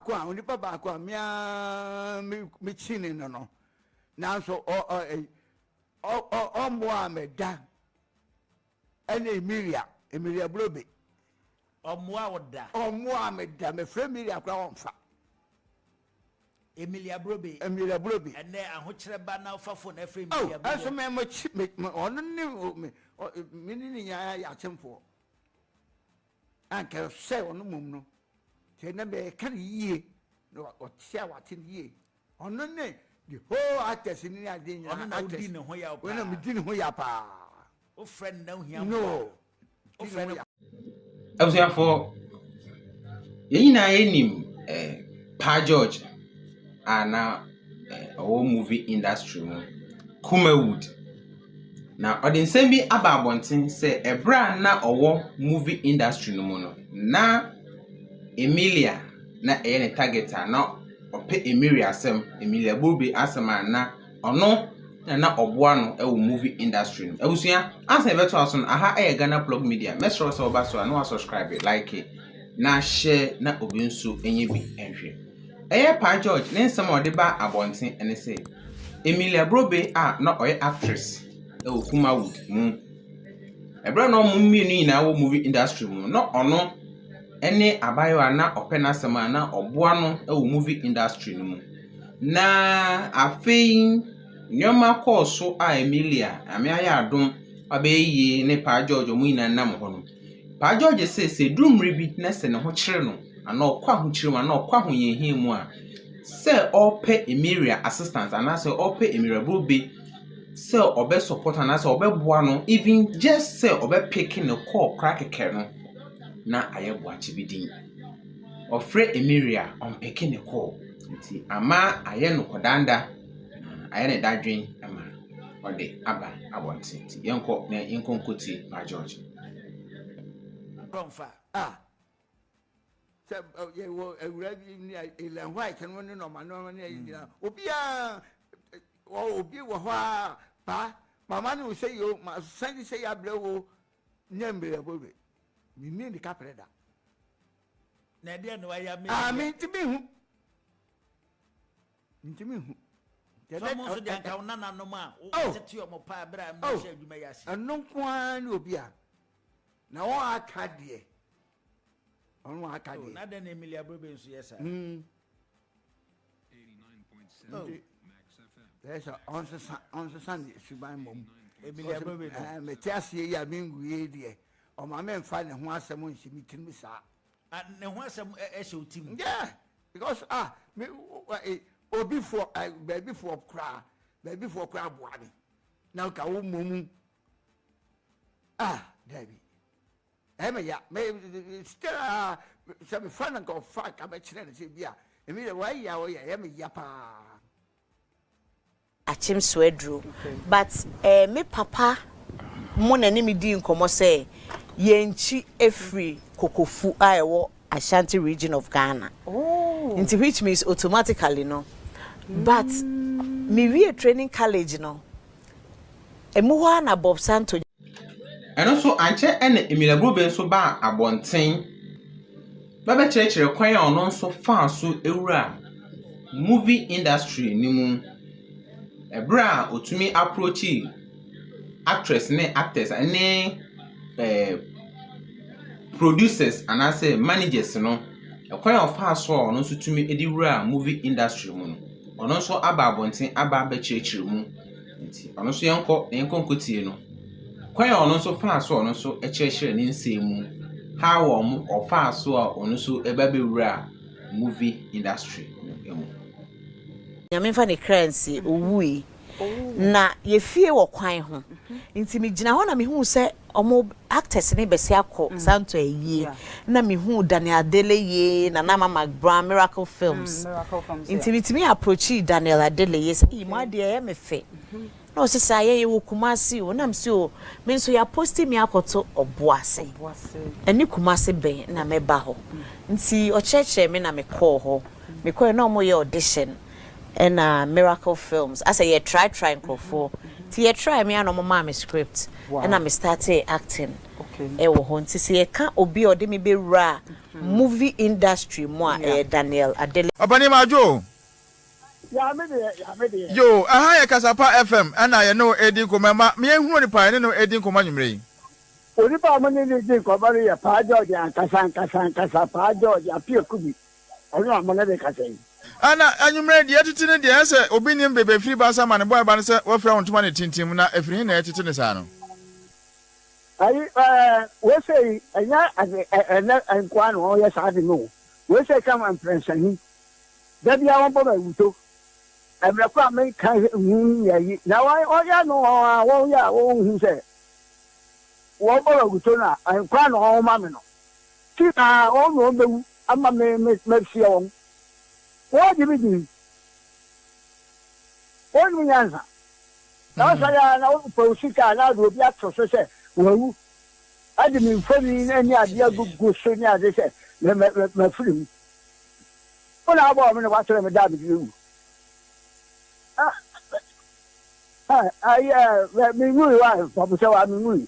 ko a onipa baako a me ara mekyini no no nanso ɔmmoaa me da ɛne Emilia Emilia Brobe ɔmmoa wo da ɔmmoa me da mefrɛ Emilia koraa ɔmfa Emilia Brobe Emilia Brobe ɛnɛ ahokyerɛ ba na ɔfa fon ɛfrɛ oh, Emilia Brobe ɛnso mɛ mɛ ɔno ne mɛ ne ne nyinaa yɛ akyemfoɔ Anka sɛ ɔno mmom no, sɛ na mɛka no yie, na ɔte a wate no yie. Ɔno ne the whole actors ne ade nyinaa. Ɔno na wodi ne ho yaw paa. Ɔno na medi ne ho yaw paa. Wofrɛ no na ohia mmoa. No. Wofrɛ no. Abusuafoɔ, yɛn nyinaa yɛnim eh, Pa George a na eh, ɔwɔ movie industry mu, Kumawood. Na ɔde nsɛm bi aba abɔnten sɛ ɛberɛ a na ɔwɔ movie industry no mu no, na Emilia na ɛyɛ ne target a na ɔpɛ Emilia asɛm, Emilia Bube asɛm a na ɔno na na ɔboa no wɔ movie industry no mu. Abusua, ansa yɛbɛto aso no, aha yɛ Ghana Plug Media. Mɛsrɛ wo sɛ woba so a na woasubscribe, like, na share na obi nso nyɛ bi nhwɛ. Ɛyɛ Paa George ne nsɛm a ɔde baa abɔnten ne sɛ, Emilia Brobe a na ɔyɛ actress wɔ Kumawood mu, ɛberɛ a na wɔn mmienu nyinaa wɔ movie industry mu no, na ɔno ne abaayewa a na ɔpɛ n'asɛm a na ɔboa no wɔ movie industry no mu. Na afei nneɛma kɔɔ so a Emilia, Nyame ayɛ adom, ɔbɛyɛ yie ne Paa George wɔn nyinaa nam hɔ no, Paa Gyɔɔgye se sɛ ɛduru mmerɛ bi na sɛ ne ho kyere no anaa ɔkɔ ahokyere mu anaa ɔkɔ ahohiahia mu a, sɛ ɔrepɛ Emeria assistance anaasɛ ɔrepɛ Emeria Brobe sɛ ɔbɛ support no anaasɛ ɔbɛboa no even just sɛ ɔbɛpeke ne call koraa kɛkɛ no, na ayɛ Boakye bi din. Ɔfrɛ Emeria a, ɔmpeke ne call. Nti ama ayɛ no kɔdaanda na ayɛ no dadwen ma no. ɔde aba abɔnten nti yɛnkɔ na yɛnkɔ nkɔtie ma George. Kɔnfa a sɛ yɛwɔ awura bi ne Ellen White no ne nɔma nɔma ne ayi nyinaa obiara obi wɔ hɔ a paa mama ne wo sɛ yi o ma san de sɛ yi abrɛ wo nyɛ mmerɛ bɔ wei menni ne kaprɛ da na ɛdeɛ na wayɛ me a mente mehu Ntumi nhu. Sɛ ɔmo nso deɛ anka wo nananom a wotete ɔmo paa berɛ a ɛmo hyɛ adwuma yi ase. Ɛno nko ara ne obi a na wɔn aka deɛ ɔno wɔn aka deɛ. Na dɛn na Emily Abrobe nso yɛ saa. Nti ɛyɛ sɛ ɔnsesa ɔnsesa ne suban mmom. Emily Abrobe no. Mete aseɛ yi a menguie deɛ ɔma menfa ne ho asɛm nhyɛ me tirim saa. A ne ho asɛm hyɛ wo tirim. Yeah because ah me eh, obi foɔ eh, baabi foɔ koraa baabi foɔ koraa boa me na nka wo mmɔ mu ah daabi ɛmɛ ya mɛ still ah sɛ me fa no nka ɔfa nka mɛkyerɛ no sɛ bi a ɛmi yɛ wɔayɛ a wɔyɛ ɛmɛ ya paa. akyem so aduro but eh me papa mo na ɛne me dii nkɔmɔ sɛ yɛnkyi ɛfiri Kokofu a ɛwɔ Ashanti region of Ghana nti which means automatically no but me wie training college no ɛmu hɔ ara na Bob Santo Ɛno so ankyɛ na Emile Grobe nso baa abɔnten bɛbɛkyerɛkyerɛ kwan a ɔno nso faa so wuraa movie industry no mu. Ɛberɛ a ɔtumi aprokyii actress ne actors ne ɛɛ producers anaasɛ managers no, kwan a ɔfaa so a ɔno nso tumi de wuraa movie industry mu no, ɔno nso aba abɔnten aba abɛkyerɛkyerɛ mu. Nti ɔno nso yɛnkɔ na yɛnkɔ nkɔtie no. Kwan a ɔno nso faa so a ɔno nso kyerɛkyerɛɛ ne nsɛm mu, how a ɔmo, ɔfaa so a ɔno nso ɛba bɛwuraa movie industry no mu. Nyame mfa ne kra nsie, owui. Na yɛfie wɔ kwan ho, nti megyina hɔ na mehuu sɛ Ɔmo actors ne bɛsi akɔ santo ayie na me huu Daniel Adeleye, Nana Ama Magbrown, Miracle Films nti me tumi approachii Daniel Adeleye sɛ eii mo adeɛ ɛyɛ me fɛ na ɔse saa yɛn yɛwɔ Kumasi o na me se o me nso ya posti me akɔto Ɔboase ɛne Kumasi bɛn na mɛba hɔ nti ɔkyerɛkyerɛ me na me kɔɔ hɔ me kɔɛ na ɔmo yɛ audition ɛna miracle films asɛ yɛ try try nkorɔfoɔ nti yɛ try me a na ɔmo maa me script ɛna me startee acting ɛwɔ hɔ nti sɛ yɛ ka obi a ɔde me bɛ wura movie industry mu a ɛyɛ Daniel Adele. Ɔpanin ma adwo o. Yaa me deɛ yaa me deɛ. Yoo ɛha yɛ Kasapa FM ɛna yɛne wo ɛredi nkɔmmɔ ɛma me ahunu onipa yɛne no ɛredi nkɔmmɔ anwummerɛ yi. Onipa a mo ne no redi nkɔmmɔ no yɛ Paa George ankasa ankasa ankasa, Paa George Appiah Kubi. Ɔno a mo ne no kasa yi. Ɛna anwummerɛ deɛ ɛtete no deɛ, ɛsɛ obi nim bebe ɛfiri ba asa ma ne boae ba no sɛ wafira wo ntoma no tintim, na ɛfiri he na ɛtete no saa no? Ayi, ɛɛ, wei sei, ɛnyɛ ade, ɛ, ɛnɛ nkoa na wɔyɛ saa ade no o. Wei sei ka ma mprɛnsa ni. Da biara wɔbɔ me awuto. Mmerɛ ko a menka nhu nyɛ yi. Na wɔyɛ no a wɔyɛ a wɔnhu sɛ wɔbɔ me awuto no a, nkoa na wɔma me no. Ti na wɔn na wɔn bɛwu ama me me mahyia wɔn. Wɔregye me din. Wɔnnim nyansa. Na wɔsɔre ara na wɔpaw sika anaa de obi ato so sɛ wawu de me mfoni ne ade agugu so ne ade sɛ mafiri mu. Wo na wabɔɔ me na woakyerɛ me da a mede bɛwu. Ah, ah, ah, yeah, me ngui, why? Papa said, why me ngui?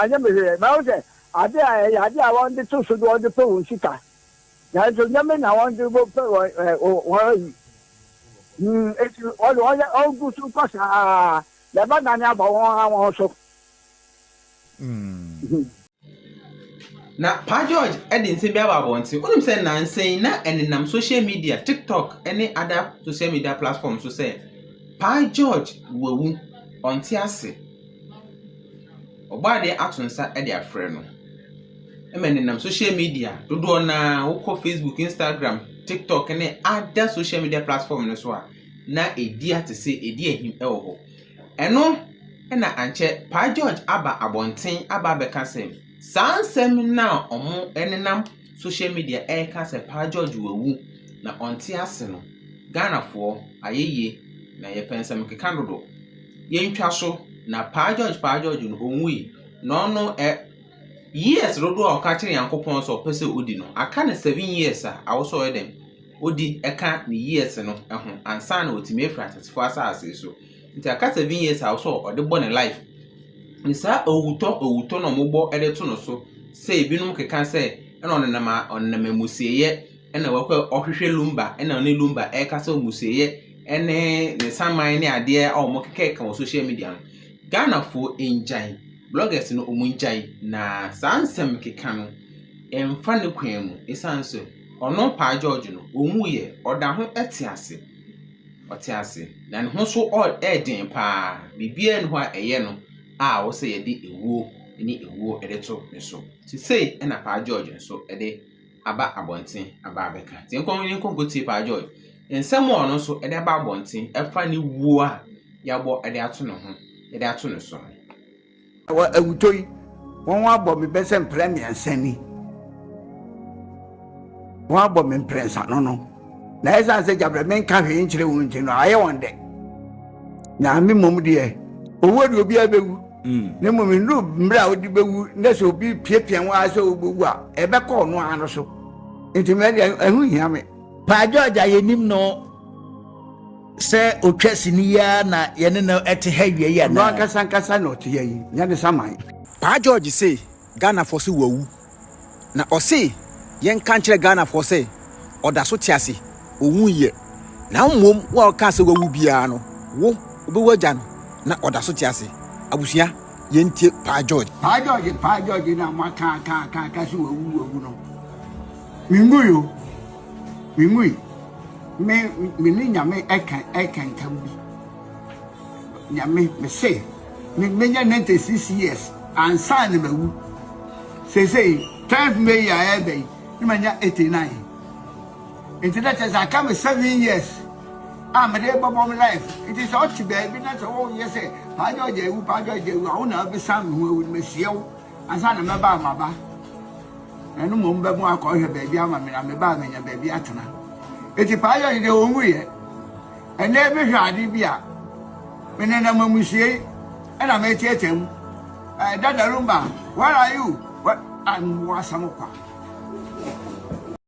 Anyɛ me hwee. Na wo sɛ, ade a ɛyɛ ade a wɔde to so de wɔde pɛ wɔn sika. Nanso nyɛ me na wɔde pɛ wɔn wɔn ayi. Eti wɔde wɔn yɛ wɔgu so kɔ saa. Na ɛbɛdane aba wɔn ara wɔn so. Mm. Na Pa George de nsɛm bi aba abɔnten. Wonim sɛ nnansa yi na ɛnenam social media, TikTok ne other social media platform so sɛ Pa George wawu, ɔnte ase. Ɔbɔ adeɛ ato nsa de afrɛ no. Ɛma ɛnenam social media dodoɔ no ara wokɔ Facebook, Instagram, TikTok ne other social media platform no so a na ɛdi ate sɛ ɛdi ahim wɔ hɔ. Ɛno na ankyɛ Paa George aba abɔnten aba abɛka sɛ saa nsɛm no a wɔnenam social media reka sɛ Paa George wawu na ɔnte ase no, Ghanafoɔ, ayɛyie na yɛpɛ nsɛmkeka dodo. Yɛntwa so na Paa George Paa George no ɔnwui na ɔno ɛ years dodoɔ a ɔka kyerɛ Nyankopɔn sɛ ɔpɛ sɛ ɔdi no, aka no seven years a, awɔ sɛ ɔyɛ dɛn? odi ka ne years no ho ansa na watumi afiri atetefo asase so. Nti aka seven years a ɔsɛ ɔde bɔ ne life. Ne saa owutɔ owutɔ na wɔbɔ de to no so sɛ ebinom keka sɛ ɛna ɔnenam a ɔnenam amusieyɛ ɛna wakɔ ɔhwehwɛ lumba ɛna ɔne lumba ɛreka sɛ amusieyɛ ɛne ne saman ne adeɛ a wɔkekakeka wɔ social media no. Ghanafoɔ ngyae, bloggers no wɔngyae na saa nsɛm keka no ɛmfa ne kwan mu ɛsiane sɛ. Ɔno Paa George no, ɔwuiɛ, ɔda ho te ase. Ɔte ase. Na ne ho nso ɔ yɛ den pa ara. Biribiara nni hɔ a ɛyɛ no a ɛwɔ sɛ yɛde ewuo ne ewuo de to ne so. Nti sei na Paa George nso de aba abɔnten aba abɛka. Nti yɛnkɔ yɛnkɔ nkɔtie Paa George nsɛm a ɔno nso de aba abɔnten ɛfa ne wuo a yɛabɔ de ato ne ho de ato ne so no. Wɔ awutɔ yi, wɔabɔ me bɛsɛ mprɛ mmiɛnsa ni. Wɔabɔ me mprɛnsa no no, na ɛsiane sɛ gyabrɛ menka hwee nkyerɛ wɔn nti no, ayɛ wɔn dɛ. Na me mmom deɛ, owuo deɛ obiara bɛwu, mm. na mmom nnuru mmerɛ a wode bɛwu, na sɛ obi piapia wo ara sɛ wobɛwu a, ɛbɛkɔ ɔno ara no so. Nti mɛ deɛ ɛho hia me. Paa George a yɛnim no. Sɛ otwa sini yi ara na yɛne no te ha awia yi anaa? Ɔno ankasa ankasa na ɔte ha yi, nyɛ ne saman. Paa George se Ghanafoɔ se wawu, na ɔse yɛnka nkyerɛ Ghanafoɔ sɛ ɔdaso te ase, ɔwuiɛ. Na mmom wo a wokaa sɛ wawu biara no, wo wobɛwu agya no na ɔdaso te ase. Abusua, yɛntie Paa George. Paa George, Paa George na moaka aka aka aka se wawu wawu no, menwui o. Mimui, me me ne Nyame ɛka ɛka ntam bi. Nyame, me se me menya 96 years ansa na mawu. Sesei 10th May a ɛbɛ yi na manya 89. Nti na kyerɛ sɛ aka me 7 years a mede bɛbɔ me life. Nti sɛ ɔte baabi na sɛ woyɛ sɛ Paa George awu, Paa George awu a, wo na wobɛsan me ho awu no, meseɛ wo. Ansa na mɛba a maba, na ɛno mmom bɛbon akɔhwɛ baabi ama me, na meba a manya baabi atena. Enti Paayɔ yi deɛ ɔnwuiɛ. Ɛnnɛ yi mehwɛ ade bi a, menenam amusiei ɛna meteetee mu. Eh, Dada Lumba, where are you? What? I'm Wasam Kwa.